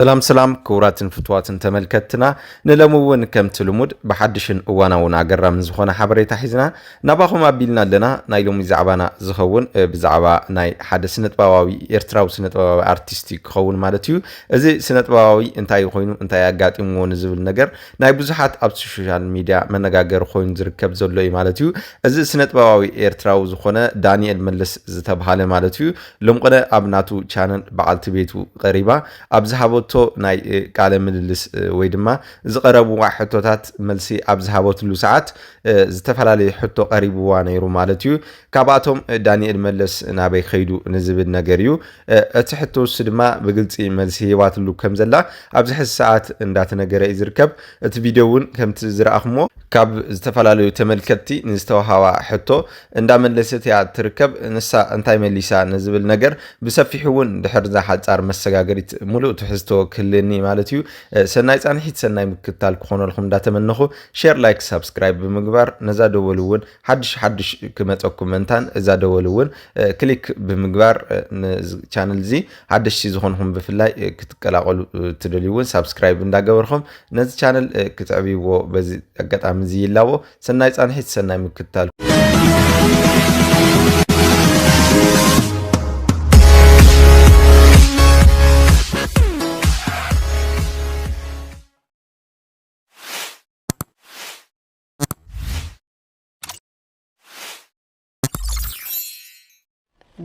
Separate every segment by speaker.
Speaker 1: ሰላም ሰላም ክቡራትን ፍትዋትን ተመልከትና ንለሚ እውን ከምቲ ልሙድ ብሓድሽን እዋናውን ኣገራምን ዝኾነ ሓበሬታ ሒዝና ናባኹም ኣቢልና ኣለና ናይ ሎሚ ዛዕባና ዝኸውን ብዛዕባ ናይ ሓደ ስነጥበባዊ ኤርትራዊ ስነጥበባዊ ኣርቲስት እዩ ክኸውን ማለት እዩ እዚ ስነጥበባዊ እንታይ ኮይኑ እንታይ ኣጋጢምዎ ንዝብል ነገር ናይ ብዙሓት ኣብ ሶሻል ሚድያ መነጋገሪ ኮይኑ ዝርከብ ዘሎ እዩ ማለት እዩ እዚ ስነጥበባዊ ኤርትራዊ ዝኾነ ዳንኤል መለስ ዝተብሃለ ማለት እዩ ሎምቕነ ኣብ ናቱ ቻነል በዓልቲ ቤቱ ቐሪባ ኣብ ዝሃበቶ ናይ ቃለ ምልልስ ወይ ድማ ዝቐረብዋ ሕቶታት መልሲ ኣብ ዝሃበትሉ ሰዓት ዝተፈላለየ ሕቶ ቐሪብዋ ነይሩ ማለት እዩ። ካብኣቶም ዳኒኤል መለስ ናበይ ከይዱ ንዝብል ነገር እዩ። እቲ ሕቶ ንሱ ድማ ብግልፂ መልሲ ሂባትሉ ከም ዘላ ኣብዚ ሕዚ ሰዓት እንዳተነገረ እዩ ዝርከብ። እቲ ቪድዮ እውን ከምቲ ዝረኣኹምዎ ካብ ዝተፈላለዩ ተመልከትቲ ንዝተውሃባ ሕቶ እንዳመለሰት እያ እትርከብ፣ ንሳ እንታይ መሊሳ ንዝብል ነገር ብሰፊሑ እውን ድሕርዛ ሓጻር መሰጋገሪት ሙሉእ ትሕዝቶ ክህልኒ ማለት እዩ። ሰናይ ጻንሒት ሰናይ ምክትታል ክኾነልኩም እንዳተመነኹ ሼር ላይክ ሳብስክራይብ ብምግባር ነዛ ደወል እውን ሓድሽ ሓድሽ ክመጸኩም መንታን እዛ ደወል እውን ክሊክ ብምግባር ንቻነል እዚ ሓደሽቲ ዝኾንኹም ብፍላይ ክትቀላቀሉ ትደልዩ እውን ሳብስክራይብ እንዳገበርኹም ነዚ ቻነል ክትዕብይዎ በዚ ኣጋጣሚ እዚ ይላቦ። ሰናይ ፃንሒት ሰናይ ምክትታል።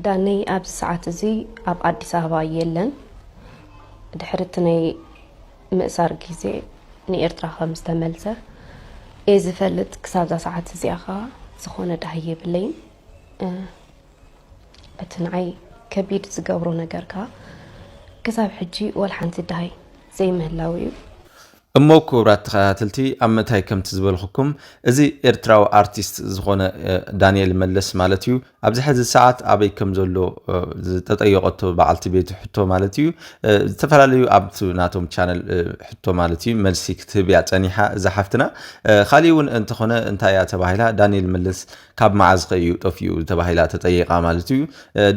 Speaker 2: ዳነይ ኣብዚ ሰዓት እዚ ኣብ ኣዲስ ኣበባ የለን። ድሕሪ እቲ ናይ ምእሳር ግዜ ንኤርትራ ከም ዝተመልሰ እየ ዝፈልጥ። ክሳብዛ ሰዓት እዚኣ ከዓ ዝኾነ ዳሃይ የብለይን። እቲ ንዓይ ከቢድ ዝገብሮ ነገር ከዓ ክሳብ ሕጂ ዋላ ሓንቲ ዳሃይ ዘይምህላው እዩ። እሞ
Speaker 1: ኩብራት ተኸታተልቲ ኣብ ምታይ ከምቲ ዝበልኹኩም እዚ ኤርትራዊ ኣርቲስት ዝኾነ ዳንኤል መለስ ማለት እዩ ኣብዚ ሕዚ ሰዓት ኣበይ ከም ዘሎ ዝተጠየቀቶ በዓልቲ ቤቱ ሕቶ ማለት እዩ ዝተፈላለዩ ኣብቲ ናቶም ቻነል ሕቶ ማለት እዩ መልሲ ክትህብ እያ ጸኒሓ እዛ ሓፍትና ካሊእ እውን እንተኾነ እንታይ እያ ተባሂላ ዳንኤል መለስ ካብ መዓዝኸ እዩ ጠፊኡ ተባሂላ ተጠይቓ ማለት እዩ።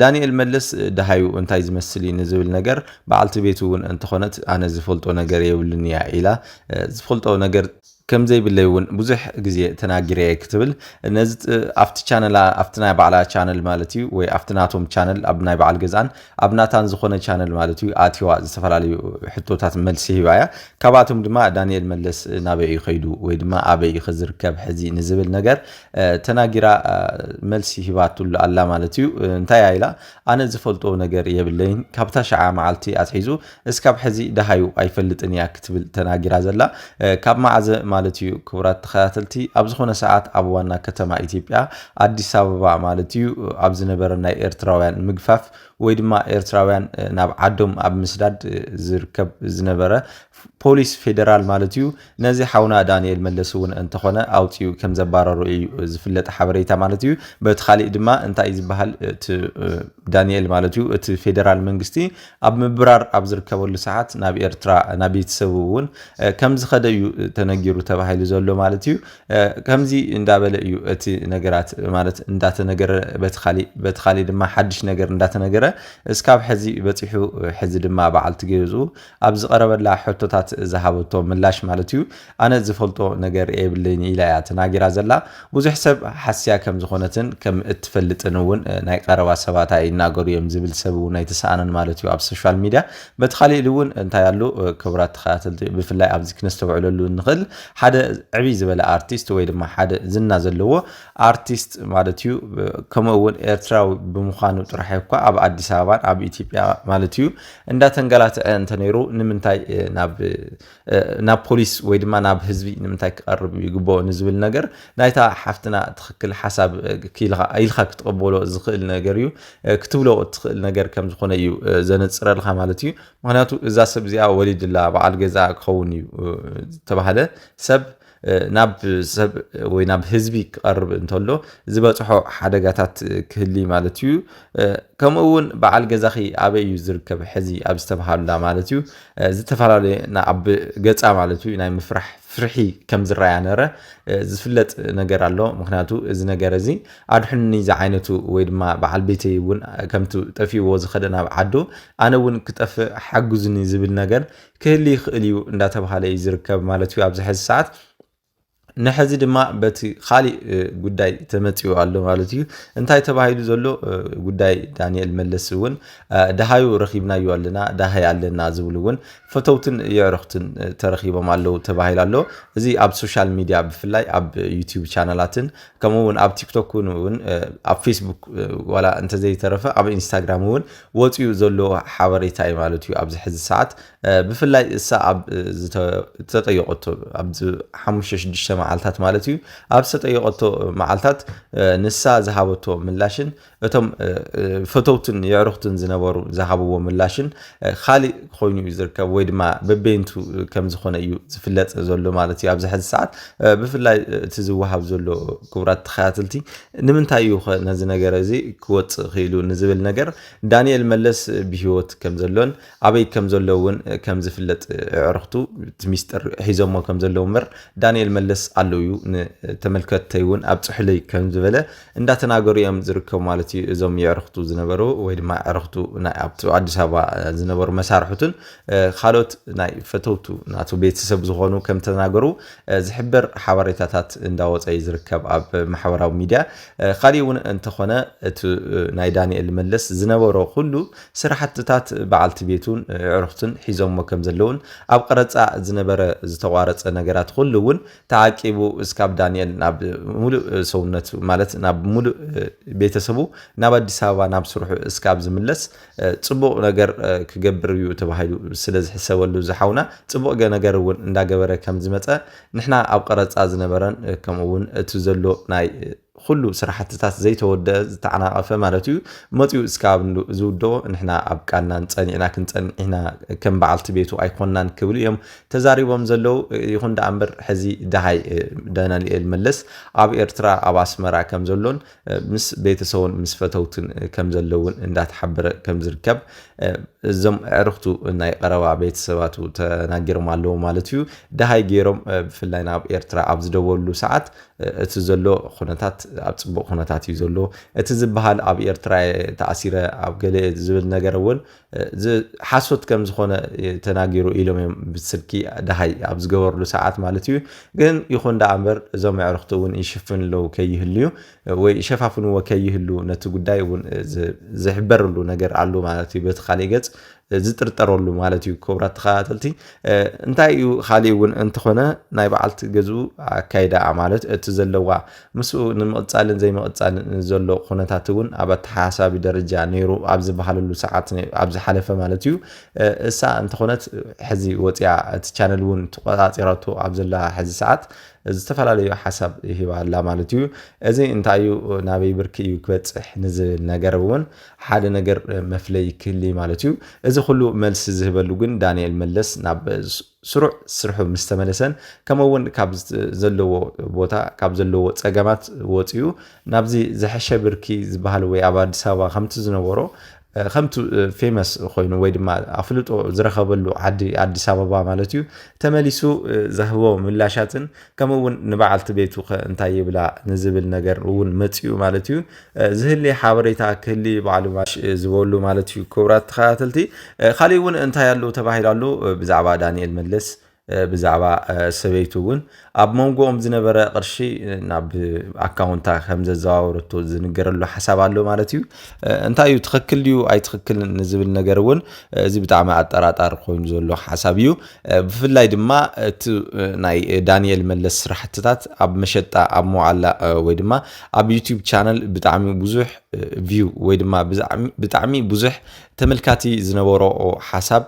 Speaker 1: ዳንኤል መለስ ደሃዩ እንታይ ዝመስል እዩ ንዝብል ነገር በዓልቲ ቤቱ እውን እንተኾነት ኣነ ዝፈልጦ ነገር የብሉን እያ ኢላ ዝፈልጦ ነገር ከምዘይብለይ እውን ብዙሕ ግዜ ተናጊረ እየ ክትብል ነዚ ኣብቲ ቻነላ ኣብቲ ናይ ባዕላ ቻነል ማለት እዩ ወይ ኣብቲ ናቶም ቻነል ኣብ ናይ በዓል ገዛን ኣብ ናታን ዝኾነ ቻነል ማለት እዩ ኣትዋ ዝተፈላለዩ ሕቶታት መልሲ ሂባ እያ ካብኣቶም ድማ ዳንኤል መለስ ናበይ እዩ ከይዱ ወይ ድማ ኣበይ እዩ ከዝርከብ ሕዚ ንዝብል ነገር ተናጊራ መልሲ ሂባትሉ ኣላ ማለት እዩ እንታይ ኢላ ኣነ ዝፈልጦ ነገር የብለይን ካብታ ሸዓ መዓልቲ ኣትሒዙ እስካብ ሕዚ ደሃዩ ኣይፈልጥን እያ ክትብል ተናጊራ ዘላ ካብ መዓዘ ማለት እዩ ክቡራት ተኸታተልቲ ኣብ ዝኾነ ሰዓት ኣብ ዋና ከተማ ኢትዮጵያ ኣዲስ ኣበባ ማለት እዩ ኣብ ዝነበረ ናይ ኤርትራውያን ምግፋፍ ወይ ድማ ኤርትራውያን ናብ ዓዶም ኣብ ምስዳድ ዝርከብ ዝነበረ ፖሊስ ፌደራል ማለት እዩ ነዚ ሓውና ዳኒኤል መለስ እውን እንተኾነ ኣውፂኡ ከም ዘባረሩ እዩ ዝፍለጥ ሓበሬታ ማለት እዩ። በቲ ካሊእ ድማ እንታይ ዝበሃል እቲ ዳኒኤል ማለት እዩ እቲ ፌዴራል መንግስቲ ኣብ ምብራር ኣብ ዝርከበሉ ሰዓት ናብ ኤርትራ ናብ ቤተሰቡ እውን ከም ዝኸደ እዩ ተነጊሩ ተባሂሉ ዘሎ ማለት እዩ። ከምዚ እንዳበለ እዩ እቲ ነገራት ማለት እንዳተነገረ በቲ ካሊእ በቲ ካሊእ ድማ ሓድሽ ነገር እንዳተነገረ እስካብ ሕዚ በፂሑ ሕዚ ድማ በዓልቲ ገዝኡ ኣብ ዝቐረበላ ሕቶታት ዝሃበቶ ምላሽ ማለት እዩ፣ ኣነ ዝፈልጦ ነገር የብለይን ኢላ እያ ተናጊራ ዘላ። ብዙሕ ሰብ ሓስያ ከም ዝኾነትን ከም እትፈልጥን እውን ናይ ቀረባ ሰባታ ይናገሩ እዮም፣ ዝብል ሰብ እውን ኣይተሰኣነን ማለት እዩ ኣብ ሶሻል ሚድያ። በቲ ካሊእ ኢድ እውን እንታይ ኣሎ ክቡራት ተኸታተልቲ ብፍላይ ኣብዚ ክነስተውዕለሉ እንኽእል ሓደ ዕብይ ዝበለ ኣርቲስት ወይ ድማ ሓደ ዝና ዘለዎ ኣርቲስት ማለት እዩ ከምኡ እውን ኤርትራዊ ብምዃኑ ጥራሕ እኳ ኣብ ኣዲስ ኣበባን ኣብ ኢትዮጵያ ማለት እዩ እንዳተንገላትዐ እንተነይሩ ንምንታይ ናብ ናብ ፖሊስ ወይ ድማ ናብ ህዝቢ ንምንታይ ክቐርብ ይግብኦ ንዝብል ነገር ናይታ ሓፍትና ትኽክል ሓሳብ ክኢልኻ ኢልካ ክትቕበሎ ዝኽእል ነገር እዩ ክትብሎ እትኽእል ነገር ከም ዝኾነ እዩ ዘነጽረልካ ማለት እዩ ምክንያቱ እዛ ሰብ እዚኣ ወሊድላ በዓል ገዛ ክኸውን እዩ ተባህለ ሰብ ናብ ሰብ ወይ ናብ ህዝቢ ክቐርብ እንተሎ ዝበፅሖ ሓደጋታት ክህሊ ማለት እዩ። ከምኡ እውን በዓል ገዛኺ ኣበይ እዩ ዝርከብ ሕዚ ኣብ ዝተብሃሉላ ማለት እዩ ዝተፈላለየ ኣብ ገፃ ማለት እዩ ናይ ምፍራሕ ፍርሒ ከም ዝረኣያ ነረ ዝፍለጥ ነገር ኣሎ። ምክንያቱ እዚ ነገር እዚ ኣድሕኑኒ ዝዓይነቱ ወይ ድማ በዓል ቤተይ እውን ከምቲ ጠፊእዎ ዝኸደ ናብ ዓዱ ኣነ እውን ክጠፍእ ሓግዙኒ ዝብል ነገር ክህሊ ይኽእል እዩ እንዳተባሃለ እዩ ዝርከብ ማለት እዩ ኣብዚ ሕዚ ሰዓት ንሕዚ ድማ በቲ ካሊእ ጉዳይ ተመፂኡ ኣሎ ማለት እዩ እንታይ ተባሂሉ ዘሎ ጉዳይ ዳንኤል መለስ እውን ደሃዩ ረኪብናዮ ኣለና ደሃይ ኣለና ዝብሉ እውን ፈተውትን የዕርኽትን ተረኪቦም ኣለዉ ተባሂሉ ኣሎ እዚ ኣብ ሶሻል ሚዲያ ብፍላይ ኣብ ዩቲዩብ ቻናላትን ከምኡ እውን ኣብ ቲክቶክ እውን ኣብ ፌስቡክ ዋላ እንተዘይተረፈ ኣብ ኢንስታግራም እውን ወፂኡ ዘሎ ሓበሬታ እዩ ማለት እዩ ኣብዚ ሕዚ ሰዓት ብፍላይ እሳ ኣብ ዝተጠየቀቶ ኣብዚ ሓሙሽተ ሽዱሽተ መዓልታት ማለት እዩ ኣብ ዝተጠየቀቶ መዓልታት ንሳ ዝሃበቶ ምላሽን እቶም ፈተውትን የዕሩኽትን ዝነበሩ ዝሃብዎ ምላሽን ካሊእ ኮይኑ እዩ ዝርከብ ወይ ድማ በበይንቱ ከም ዝኾነ እዩ ዝፍለጥ ዘሎ ማለት እዩ ኣብዚ ሕዚ ሰዓት ብፍላይ እቲ ዝወሃብ ዘሎ ክቡራት ተኸታተልቲ ንምንታይ እዩ ከ ነዚ ነገር እዚ ክወጽእ ክኢሉ ንዝብል ነገር ዳንኤል መለስ ብሂወት ከም ዘሎን ኣበይ ከም ዘሎ እውን ከም ዝፍለጥ ኣዕርኽቱ እቲ ሚስጥር ሒዞሞ ከም ዘለዉ እምበር ዳንኤል መለስ ኣሎ እዩ ንተመልከትተይ እውን ኣብጽሑለይ ከም ዝበለ እንዳተናገሩ እዮም ዝርከቡ ማለት እዩ እዞም የዕርኽቱ ዝነበሩ ወይ ድማ ኣዕርኽቱ ናይ ኣብቲ ኣዲስ ኣበባ ዝነበሩ መሳርሕቱን ካልኦት ናይ ፈተውቱ ናቱ ቤተሰብ ዝኾኑ ከም ተናገሩ ዝሕብር ሓበሬታታት እንዳወፀ እዩ ዝርከብ ኣብ ማሕበራዊ ሚድያ። ካሊእ እውን እንተኾነ እቲ ናይ ዳኒኤል መለስ ዝነበሮ ኩሉ ስራሕትታት በዓልቲ ቤቱን ኣዕሩኽቱን ሒዞሞ ከም ዘለውን ኣብ ቐረፃ ዝነበረ ዝተቋረፀ ነገራት ኩሉ እውን ተዓቂቡ እስካብ ዳኒኤል ናብ ሙሉእ ሰውነቱ ማለት ናብ ሙሉእ ቤተሰቡ ናብ ኣዲስ ኣበባ ናብ ስርሑ እስካብ ዝምለስ ጽቡቕ ነገር ክገብር እዩ ተባሂሉ ስለ ዝሕሰበሉ እዚ ሓውና ጽቡቕ ነገር እውን እንዳገበረ ከም ዝመጸ ንሕና ኣብ ቐረጻ ዝነበረን ከምኡ እውን እቲ ዘሎ ናይ ኩሉ ስራሕትታት ዘይተወደአ ዝተዓናቐፈ ማለት እዩ መጺኡ እስካብ ዝውደኦ ንሕና ኣብ ቃልናን ጸኒዕና ክንጸንዕ ኢና ከም በዓልቲ ቤቱ ኣይኮናን ክብሉ እዮም ተዛሪቦም ዘለው ይኹን ደኣ እምበር ሕዚ ደሃይ ዳናልኤል መለስ ኣብ ኤርትራ ኣብ ኣስመራ ከም ዘሎን ምስ ቤተሰቡን ምስ ፈተውቱን ከም ዘሎ እውን እንዳተሓበረ ከም ዝርከብ እዞም ኣዕርኽቱ ናይ ቐረባ ቤተሰባቱ ተናጊሮም ኣለዉ ማለት እዩ። ደሃይ ገይሮም ብፍላይ ናብ ኤርትራ ኣብ ዝደወሉ ሰዓት እቲ ዘሎ ኩነታት ኣብ ጽቡቕ ኩነታት እዩ ዘሎ እቲ ዝበሃል ኣብ ኤርትራ ተኣሲረ ኣብ ገለ ዝብል ነገር እውን እዚ ሓሶት ከም ዝኾነ ተናጊሩ ኢሎም እዮም ብስልኪ ደሃይ ኣብ ዝገበርሉ ሰዓት ማለት እዩ። ግን ይኹን ደኣ እምበር እዞም ኣዕርኽቱ እውን ይሽፍንለው ከይህልዩ ወይ ይሸፋፍንዎ ከይህሉ ነቲ ጉዳይ እውን ዝሕበረሉ ነገር ኣሉ ማለት እዩ። በቲ ካሊእ ገጽ ዝጥርጠረሉ ማለት እዩ። ክቡራት ተኸታተልቲ እንታይ እዩ ካሊእ እውን እንተኾነ ናይ በዓልቲ ገዝኡ ኣካይዳኣ ማለት እቲ ዘለዋ ምስኡ ንምቕጻልን ዘይምቕጻልን ንዘሎ ኩነታት እውን ኣብ ኣተሓሳሳቢ ደረጃ ነይሩ ኣብ ዝበሃለሉ ሰዓት ኣብ ዝሓለፈ ማለት እዩ እሳ እንተኾነት ሕዚ ወፂኣ እቲ ቻነል እውን ተቆፃፂራቶ ኣብ ዘላ ሕዚ ሰዓት ዝተፈላለዩ ሓሳብ ሂባ ኣላ ማለት እዩ እዚ እንታይ እዩ ናበይ ብርኪ እዩ ክበፅሕ ንዝብል ነገር እውን ሓደ ነገር መፍለይ ክህሊ ማለት እዩ እዚ ኩሉ መልሲ ዝህበሉ ግን ዳንኤል መለስ ናብ ስሩዕ ስርሑ ምስ ተመለሰን ከምኡ እውን ካብ ዘለዎ ቦታ ካብ ዘለዎ ፀገማት ወፂኡ ናብዚ ዝሐሸ ብርኪ ዝበሃል ወይ ኣብ ኣዲስ ኣበባ ከምቲ ዝነበሮ ከምቲ ፌመስ ኮይኑ ወይ ድማ ኣፍልጦ ዝረኸበሉ ዓዲ ኣዲስ ኣበባ ማለት እዩ ተመሊሱ ዝህቦ ምላሻትን ከምኡ እውን ንበዓልቲ ቤቱ ከ እንታይ ይብላ ንዝብል ነገር እውን መፅኡ ማለት እዩ ዝህሊ ሓበሬታ ክህሊ ባዕሉ ማሽ ዝበሉ ማለት እዩ ክብራት ተኸታተልቲ ካሊእ እውን እንታይ ኣሉ ተባሂሉ ኣሉ ብዛዕባ ዳንኤል መለስ ብዛዕባ ሰበይቱ እውን ኣብ መንጎኦም ዝነበረ ቅርሺ ናብ ኣካውንታ ከም ዘዘዋወረቶ ዝንገረሉ ሓሳብ ኣሎ ማለት እዩ እንታይ እዩ ትኽክል ድዩ ኣይትኽክልን ንዝብል ነገር እውን እዚ ብጣዕሚ ኣጠራጣሪ ኮይኑ ዘሎ ሓሳብ እዩ ብፍላይ ድማ እቲ ናይ ዳንኤል መለስ ስራሕትታት ኣብ መሸጣ ኣብ መዋዕላ ወይ ድማ ኣብ ዩቲዩብ ቻነል ብጣዕሚ ብዙሕ ቪው ወይ ድማ ብጣዕሚ ብዙሕ ተመልካቲ ዝነበሮ ሓሳብ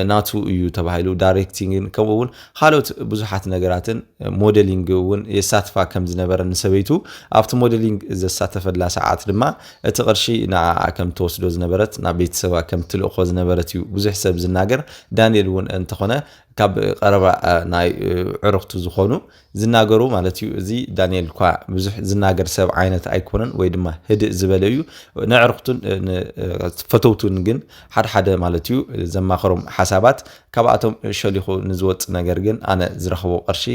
Speaker 1: ናቱ እዩ ተባሂሉ ዳይሬክቲንግን ከምኡ እውን ካልኦት ብዙሓት ነገራትን ሞዴሊንግ እውን የሳትፋ ከም ዝነበረ ንሰበይቱ ኣብቲ ሞዴሊንግ ዘሳተፈላ ሰዓት ድማ እቲ ቅርሺ ንዓኣ ከም ትወስዶ ዝነበረት ናብ ቤተሰባ ከም ትልእኮ ዝነበረት እዩ ብዙሕ ሰብ ዝናገር ዳንኤል እውን እንተኾነ ካብ ቀረባ ናይ ዕርኽቱ ዝኾኑ ዝናገሩ ማለት እዩ እዚ ዳንኤል እኳ ብዙሕ ዝናገር ሰብ ዓይነት ኣይኮነን ወይ ድማ ህድእ ዝበለ እዩ ንዕርክቱን ፈተውቱን ግን ሓደሓደ ማለት እዩ ዘማኸሮም ሓሳባት ካብኣቶም ሸሊኹ ንዝወፅ ነገር ግን ኣነ ዝረኽቦ ቅርሺ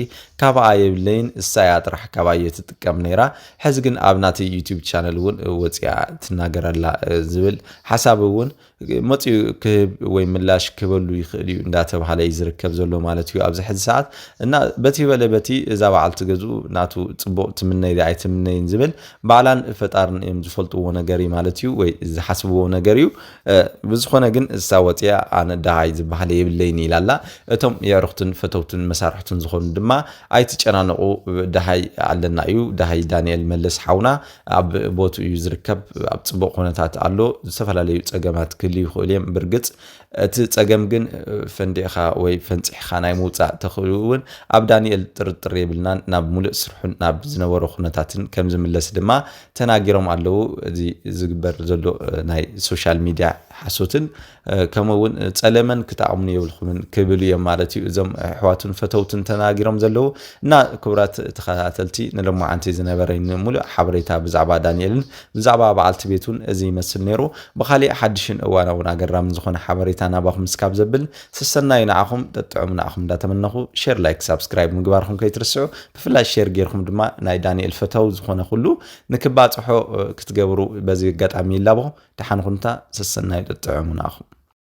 Speaker 1: ካባኣ የብለይን እሳያ ጥራሕ ካባየ ትጥቀም ነይራ ሕዚ ግን ኣብ ናተይ ዩቲብ ቻነል እውን ወፅኣ ትናገረላ ዝብል ሓሳብ እውን መፂኡ ክህብ ወይ ምላሽ ክበሉ ይኽእል እዩ እንዳተባሃለ እዩ ዝርከብ ዘሎ ማለት እዩ ኣብዚ ሕዚ ሰዓት እና በቲ በለ በቲ እዛ በዓልቲ ገዝኡ ናቱ ፅቡቕ ትምነይ ዶ ኣይትምነይን ዝብል ባዕላን ፈጣርን እዮም ዝፈልጥዎ ነገር እዩ ማለት እዩ ወይ ዝሓስብዎ ነገር እዩ ብዝኾነ ግን እሳ ወፂኣ ኣነ ደሃይ ዝበሃለ የብለይን ኢላ ኣላ እቶም የዕርኽቱን ፈተውቱን መሳርሕቱን ዝኾኑ ድማ ኣይትጨናነቑ ደሃይ ኣለና እዩ ደሃይ ዳንኤል መለስ ሓውና ኣብ ቦትኡ እዩ ዝርከብ ኣብ ፅቡቕ ኩነታት ኣሎ ዝተፈላለዩ ፀገማት ክህልዩ ይኽእሉ እዮም ብርግፅ እቲ ፀገም ግን ፈንዲእኻ ወይ ፈንፂሕኻ ናይ ምውፃእ ተኽእሉ እውን ኣብ ዳንኤል ጥርጥር የብልናን ናብ ሙሉእ ስርሑን ናብ ዝነበሮ ኩነታትን ከም ዝምለስ ድማ ተናጊሮም ኣለዉ እዚ ዝግበር ዘሎ ናይ ሶሻል ሚድያ ሓሶትን ከምኡ እውን ጸለመን ክጠቕሙን የብልኩምን ክብሉ እዮም ማለት እዩ እዞም ኣሕዋትን ፈተውትን ተናጊሮም ዘለዉ እና ክቡራት ተኸታተልቲ ንሎማዓንቲ ዝነበረኝ ሙሉእ ሓበሬታ ብዛዕባ ዳንኤልን ብዛዕባ በዓልቲ ቤቱን እዚ ይመስል ነይሩ ብኻሊእ ሓድሽን እዋናውን ኣገራምን ዝኾነ ሓበሬታ ናባኹም እስካብ ዘብል ሰሰናዩ ንዓኹም ጠጥዑም ንዓኹም እንዳተመነኹ ሼር ላይክ ሳብስክራይብ ምግባርኹም ከይትርስዑ ብፍላይ ሼር ጌርኩም ድማ ናይ ዳንኤል ፈተው ዝኾነ ኩሉ ንክባጽሖ ክትገብሩ በዚ ኣጋጣሚ ይላቦ። ደሓን ኩኑ እታ ሰሰናዩ ጥጥዑሙና ኣኹም።